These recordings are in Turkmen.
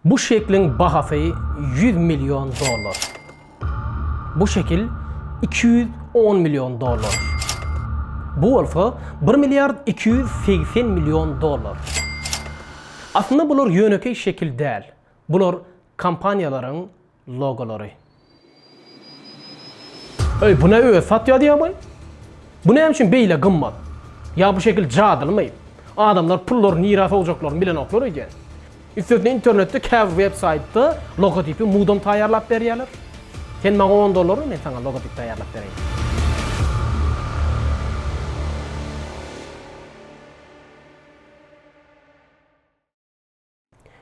Bu şekliň bahasy ýüz million dollar. Bu şekil iki ýüz on million dollar. Bu bolsa bir milliard iki ýüz segsen million dollar. Aslynda bular ýönekeý şekil däl. Bular kompaniýalaryň logolary. Öý bu ne öz satýa diýýä boý. Bu näme üçin beýle gymmat? Ýa bu şekil jadylymy? Adamlar pullary nirä sowjaklaryny bilenoklar öýdýän. Üstesine internetde käbir web saýtda logotipi mudam taýýarlap berýärler. Sen maňa on dollar ber men saňa logotip taýýarlap bereýin.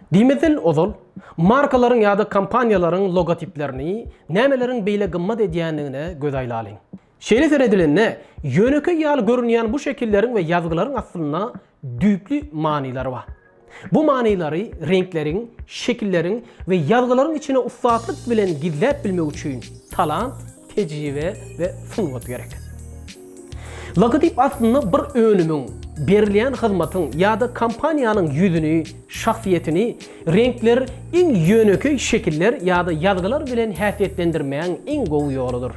Diýmeseň ozal, markalaryň ýa-da kompaniýalaryň logotiplerini nämeleriň beýle gymmat edýändigine göz aýlalyň. Şeýle seredilende, ýönekeý ýaly görünýän bu şekilleriň we ýazgylaryň aslynda düýpli manylary bar. Bu manylary reňkleriň, şekilleriň we ýazgylaryň içine ussatlyk bilen gizläp bilmek üçin talant Tejribe we sungat gerek. Logotyp aslynda bir önümiň, berilýän hyzmatyň ýa-da kompaniýanyň ýüzüni, şahsyýetini, reňkler, iň ýönekeý şekiller ýa-da ýazgylar bilen häsiýetlendirmäň iň gowy ýoludyr.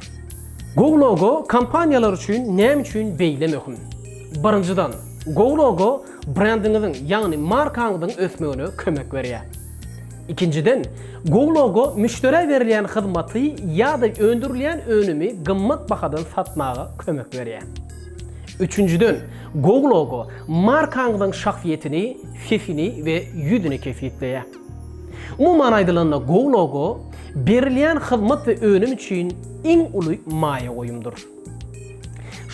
Gowy logo kompaniýalar üçin näme üçin beýle möhüm? Birinjiden, gowy logo brendiňiziň, ýagny markaňyzyň ösmegine kömek berýär. Ikinjiden, GoLogo müşderä berilýän hyzmaty ýa-da öndürilýän önümi gymmat bahadan satmaga kömek berýär. Üçünjiden, GoLogo markaňyzyň şahsyýetini, sesini we ýüzüni kesgitleýär. Umuman aýdylanda, GoLogo berilýän hyzmat we önüm üçin iň uly maýa goýumdyr.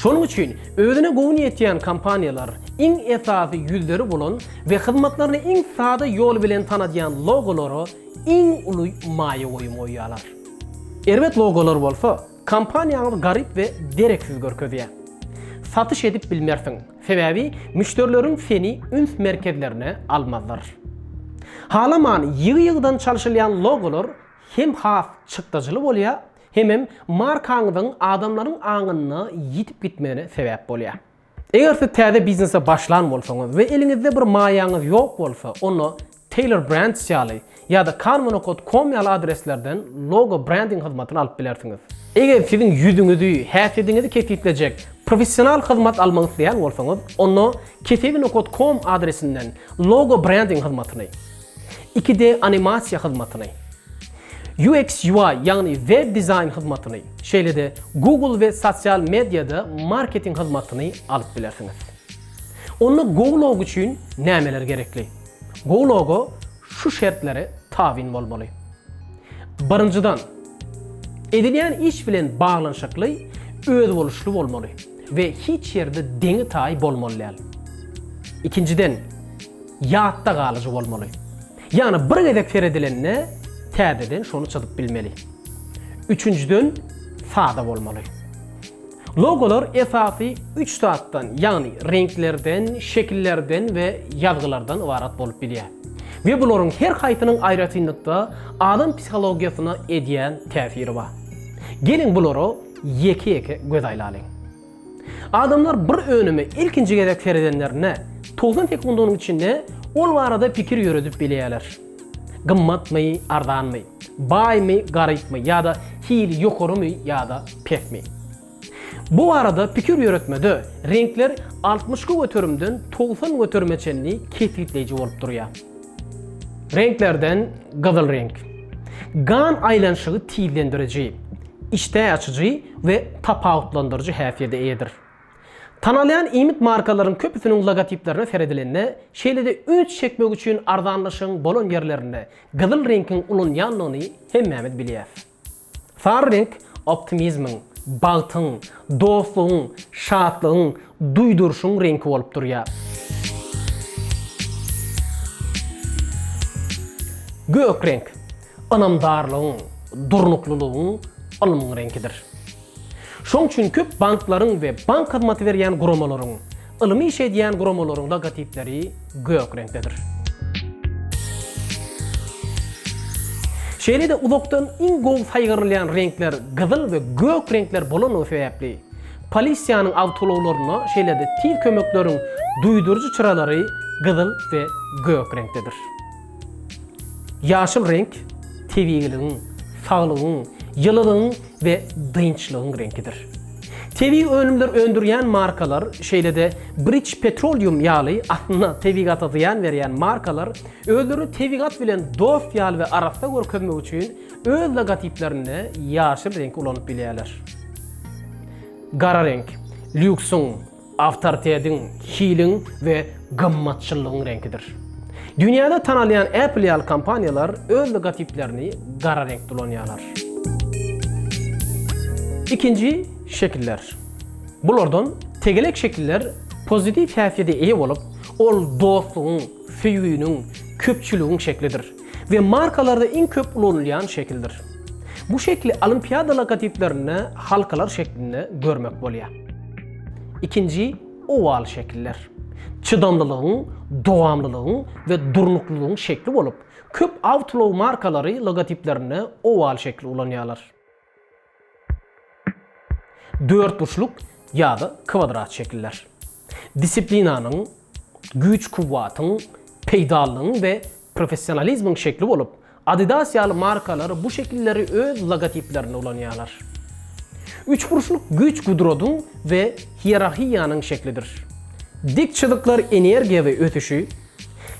Şonuň üçin özüne göwün ýetýän kompaniýalar, iň esasy ýüzleri bolan we hyzmatlaryny iň sada ýol bilen tanadýan logolara iň uly maýa goýum goýýarlar. Erbet logolar bolsa, kompaniýaňyzy garyp we dereksiz görkezýär. Satyş edip bilmersiň, sebäbi müşderileriň seni üns merkezlerine almazlar. Halaman ýygy-ýygydan çalşylýan logolar hem has çykdajyly bolýar, Hemem markaňyzyň adamlaryň aňynda ýitip gitmegine sebäp bolýar. Eger siz täze biznese başlan bolsaňyz we eliňizde bir maýaňyz ýok bolsa, onda Taylor Brands ýaly ýa-da Canvanokat com ýaly adreslerden logo brending hyzmatyny alyp bilersiňiz. Eger siziň ýüzüňizi, häsiýetiňizi kesgitlejek professional hyzmat almak isleýän bolsaňyz, onda keseginokat com adresinden logo brending hyzmatyny, Iki D animasiýa hyzmatyny, UX-UI, ýagny web dizaýn hyzmatyny, şeýle-de Google we sosial mediada marketing hyzmatyny alyp bilersiňiz. Onda GoLog üçin nämeler gerekli? GoLog-a şu şertleri tabyn bolmaly. Birinjiden, edilýän iş bilen baglanyşykly özboluşly bolmaly. we hiç ýerde deňi-taýy bolmaly däl. Ikinjiden, ýatda galyjy bolmaly. Ýagny bir gezek seredilende täzeden şony çyzyp bilmeli. Üçünjiden, sada bolmaly. Logolar esasy üç zatdan, ýagny reňklerden, şekillerden we ýazgylardan ybarat bolup bilýär. We bularyň her haýsynyň aýratynlykda adam psihologiýasyna edýän täsiri bar. Geliň bulara Ýeke-ýeke göz aýlalyň. Adamlar bir önüme ilkinji gezek seredenlerinde, togsan sekundanyň içinde ol barada pikir ýöredip bilýärler. Gymmatmy, arzanmy? Baýmy, garypmy ýa-da hili ýokarymy ýa-da pesmi? Bu barada pikir ýöretmede reňkler altmyş göterimden togsan göterime çenli kesgitleýji bolup durýar. Reňklerden gyzyl reňk. Gan aýlanyşygy tizlendiriji, işdä açyjy we tapawutlandyryjy häsiýete eýedir. Tanalýan iýmit markalaryň köpüsiniň logotiplerine seredilende, şeýle-de üns çekmek üçin arzanlaşygyň bolan ýerlerinde gyzyl reňkiň ulanýandygyny hemmämiz bilýäs. Sary reňk optimizmiň, bagtyň, dostlugyň, şatlygyň, duýduryşyň reňki bolup durýar. Gök reňk, ynamdarlygyň, durnuklylygyň, ylmyň reňkidir. Şoň üçin köp banklaryň we bank hyzmaty berýän guramalaryň, ylmy iş edýän guramalaryň logotipleri gök reňkdedir. Şeýle-de uzakdan iň gowy saýgarylýan reňkler gyzyl we gök reňkler bolanlygy sebäpli, polisiýanyň awtoulaglarynda, şeýle-de tiz kömekleriň duýduryjy çyralary gyzyl we gök reňkdedir. Ýaşyl reňk tebigiligiň, saglygyň, ýylylygyň we dynçlygyň reňkidir. Tebigy önümler öndürýän markalar, şeýle-de British Petroleum ýaly aslynda tebigata zyýan berýän markalar özlerini tebigat bilen dost ýaly we arassa görkezmek üçin öz logotiplerinde ýaşyl reňki ulanyp bilýärler. Gara reňk, lýuksyň, Awtoritetiň, hiliň we gymmatçyllygyň reňkidir. Dünýäde tanalýan Apple ýaly kompaniýalar öz logotiplerini gara reňkde ulanýarlar. Ikinji şekiller. Bulardan tegelek şekiller pozitiw häsiýete eýe bolup, ol dostlugyň, söýginiň, köpçüligiň şeklidir. we markalarda iň köp ulanylýan şekildir. Bu şekli olimpiada logotiplerinde halkalar şeklinde görmek bolýar. Ikinji owal şekiller. Çydamlylygyň, dowamlylygyň we durnuklylygyň şekli bolup, köp awtoulag markalary logotiplerinde owal şekli ulanýarlar. Dörtburçluk ýa-da kwadrat şekiller. Disiplinanyň, güýç-kuwwatyň, peýdalylygyň we professionalizmiň şekli bolup, Adidas ýaly markalar bu şekilleri öz logotiplerinde ulanýarlar. Üçburçluk güýç-gudratyň we hierarhiýanyň şeklidir. Dik çyzyklar energiýa we ösüşi,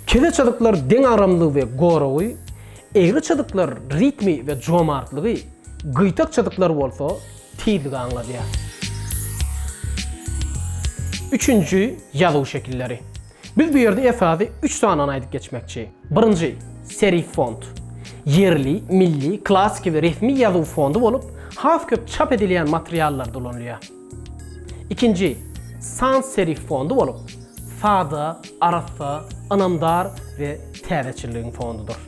Kele çyzyklar deňagramlygy we goragy, egri çyzyklar ritmi we jomartlygy, gyýtak çyzyklar bolsa tizligi aňladýar. Üçünji ýazuw şekilleri. Biz bu ýerde esasy üç sanany aýdyp geçmekçi. Birinji, serif font. Ýerli, milli, klassyky we resmi ýazuw fondy bolup, has köp çap edilýän materiallarda ulanylýar. Ikinji, sans-serif fondy bolup, sada, arassa, ynamdar we täzeçilligiň fondydyr.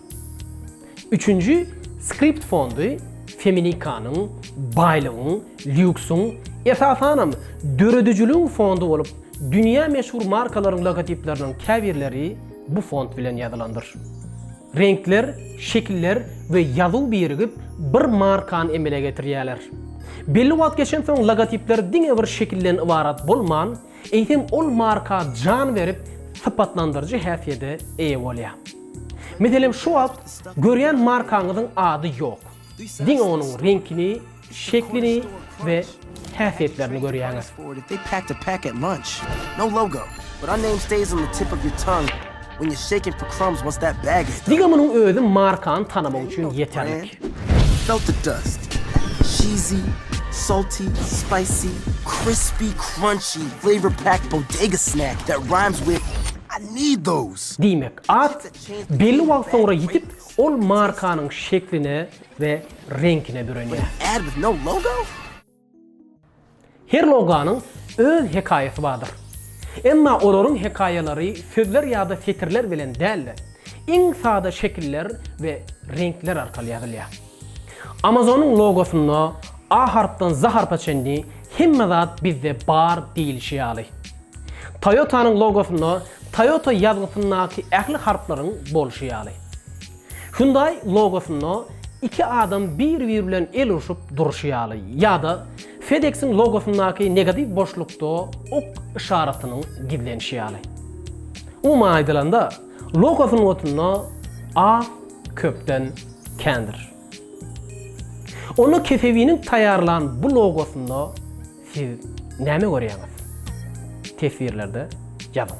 Üçünji, skript fondy feminikanyň, baýlygyň, lýuksyň, esasanam, döredijiligiň fondy bolup, dünýä meşhur markalaryň logotipleriniň käbirleri bu fond bilen ýazylandyr. Reňkler, şekiller we ýazuw birigip, bir markany emele getirýärler. Belli wagt geçensoň logotipler diňe bir şekilden ybarat bolman, eýsem ol marka jan berip, sypatlandyryjy häsiýede eýe bolýar. Meselem, şu wagt görýän markaňyzyň ady ýok. Diňe onuň reňkini Şeklini we häsiýetlerini görýäňiz. Diňe munuň özi markany tanamak üçin ýeterlik. Diýmek, at belli wagt soňra ýitip, ol markanyň şekline we reňkine bürenýär. Her loganyň öz hekaýasy bardyr. Emma olaryň hekaýalary sözler ýa-da setirler bilen däl-de, iň sada şekiller we reňkler arkaly ýazylýar. Amazonyň logosynda A harpdan Z harpa çenli hemme zat bizde bar diýlişi ýaly. Toyota-nyň logosynda Toyota ýazgysyndaky ähli harplaryň bolşy ýaly. Hyundaý logosynda iki adam bir-bir bilen el urşup durşy ýaly ýa-da FedEx-iň logosyndaky negatiw boşlukda ok yşaratynyň gizlenişi ýaly. Umuman aýdylanda, logo sungatynda az köpden kändir. Onda Kesewiniň taýýarlan bu logosynda siz näme görýäňiz? Teswirlerde ýazyň.